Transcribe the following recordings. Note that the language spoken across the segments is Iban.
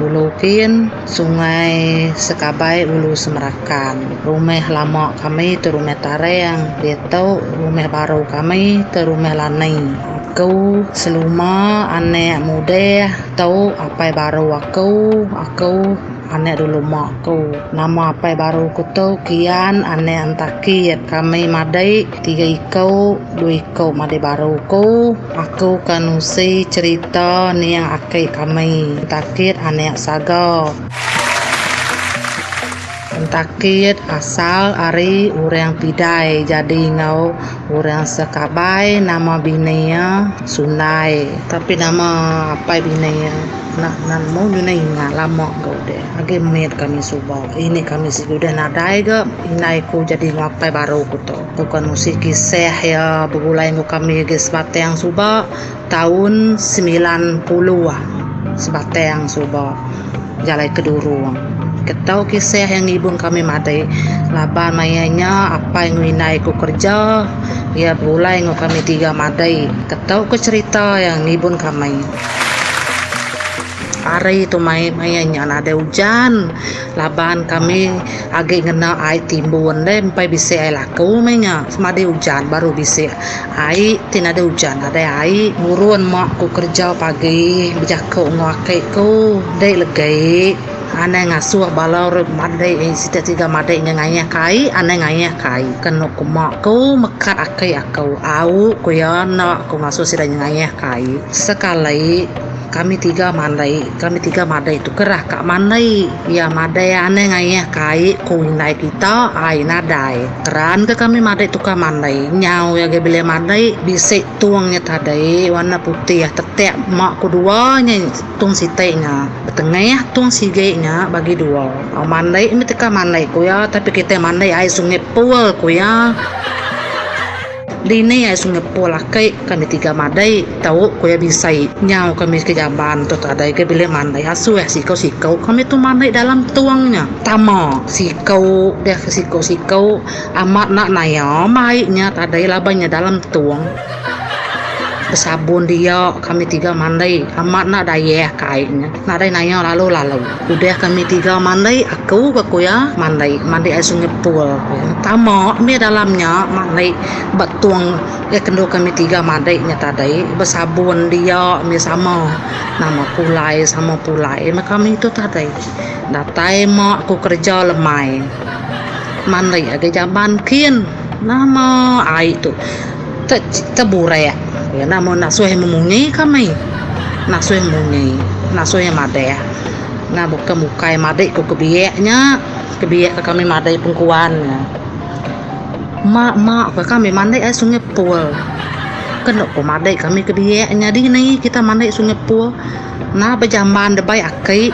Ulu Kin, Sungai Sekabai Ulu Semerakan. Rumah lama kami tu Rumah Tarang diatu rumah baru kami tu Rumah Lani. Aku seluma anak mudah tu apai baru aku, aku anak dulu mak aku. Nama apai baru aku tu Kian anak Entakit. Kami madai Tiga iku, dua iku madai baru ku, aku ka nusi cerita nia aki kami, pentakit anak saga. Pentakit asal ari urang pidai jadi enggau urang sekabai nama bini iya Sundai. Tapi nama apai bini iya enda nemu nyunai ingat lama ga udah. Agi mit kami suba. Ini kami sigi udah nadai ga indai ku jadi ngapai baru ku tu. Tu kan usi kisah iya begulai enggau kami agi sebatang suba taun semilan puluh sebatang suba jalai ke Durong. Ke tau kisah iya ngibun kami madai laban maya nya apai enggau indai ku kerja iya begulai enggau kami tiga madai. Ke tau ke cerita iya ngibun kami. Ari tu mai maya nya nadai ujan laban kami agi ngena ai timbun deh empai bisi ai laku meh nya semadi ujan baru bisi ai ti nadai ujan nadai ai nurun mak ku kerja pagi bejaku enggau aki ku dei legei anai ngasuh bala ri madei siti tiga madei nya ngayah ka ai anai ngayah ka ai ke eno ku mak ku mekat aki aku au ku iya enda ku ngasuh sida ngayah ka ai sekali. Kami tiga mandai kami tiga madai tu kerah ka mandai iya madai anai ngayah ka ai ku indai kita ai nadai keran ka kami madai tukar mandai nyau iya agi bilai madai bisi tung nya tadai warna putih tetek ma ku dua nya tung siti nya betengah tung sigi nya bagi dua mandai mih teka mandai ku iya tapi kitai mandai ai sungai pul ku iya. Dini ai Singapore laki kami tiga madai tau ku iya bisai nyau kami ke Jaban tu tadai ke bilik mandai asuh siko siko kami tu mandai dalam tung nya tama siko deh ke siko siko amat enda naya mai nya tadai laban nya dalam tung besabun dia kami tiga mandai amat enda dayah kai nya nadai naya lalu lalu. Udah kami tiga mandai aku ka ku iya mandai mandai ai sungai pul ku iya tama meh dalam nya mandai ba tong ai kendu kami tiga mandai nya tadai besabun dia meh sama nama pulai sama pulai meh kami tu tadai datai mak ku kerja lemai mandai agi jamban kin. Nama ai tu te teburak ya nama nasuh memunyi kami nasuh munyi nasuh madah nah bukan bukai madik ku kebiak nya kebiak ke kami madai pengkuan nya mak mak ke kami mandi air sungai pul kenu ku madik kami kebiak nya dini kita mandi sungai pul. Nah bejamban debai aki.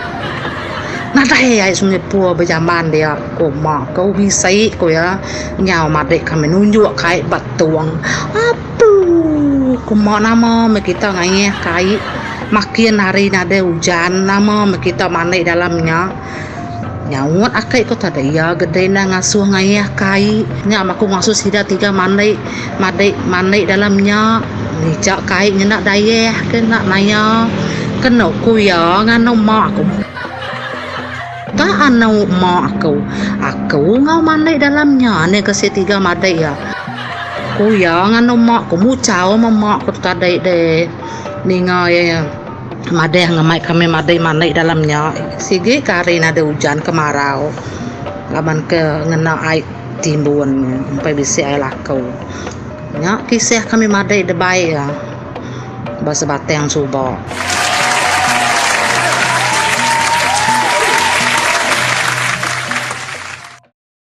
Nadai ai semua ipoh bejamban dia ko ma ko bisi ko iya nyau madik kami nunjuk ka ai ba tong. Apu ko ma nama meh kita ngayah ka ai makin hari nadai ujan nama meh kita mandi dalam nya. Nyaut aki ku tada iya gede enda ngasuh ngayah kai nya maku ngasuh sida tiga mandi madi mandi dalam nya nija kai ngena dayah ke enda naya keno ku iya nganu mak aku ka anu mak aku aku enggau mandi dalam nya ni ke si tiga madi iya ku iya nganu mak ku muchau meh mak ku tadi deh ninga iya. Madah ngamai kami madai mani dalam nya sigi ke hari nadai ujan kemarau laban ke ngena ai timbun empai bisi ai laku. Nya kisah kami madai debai iya ba sebatang suba.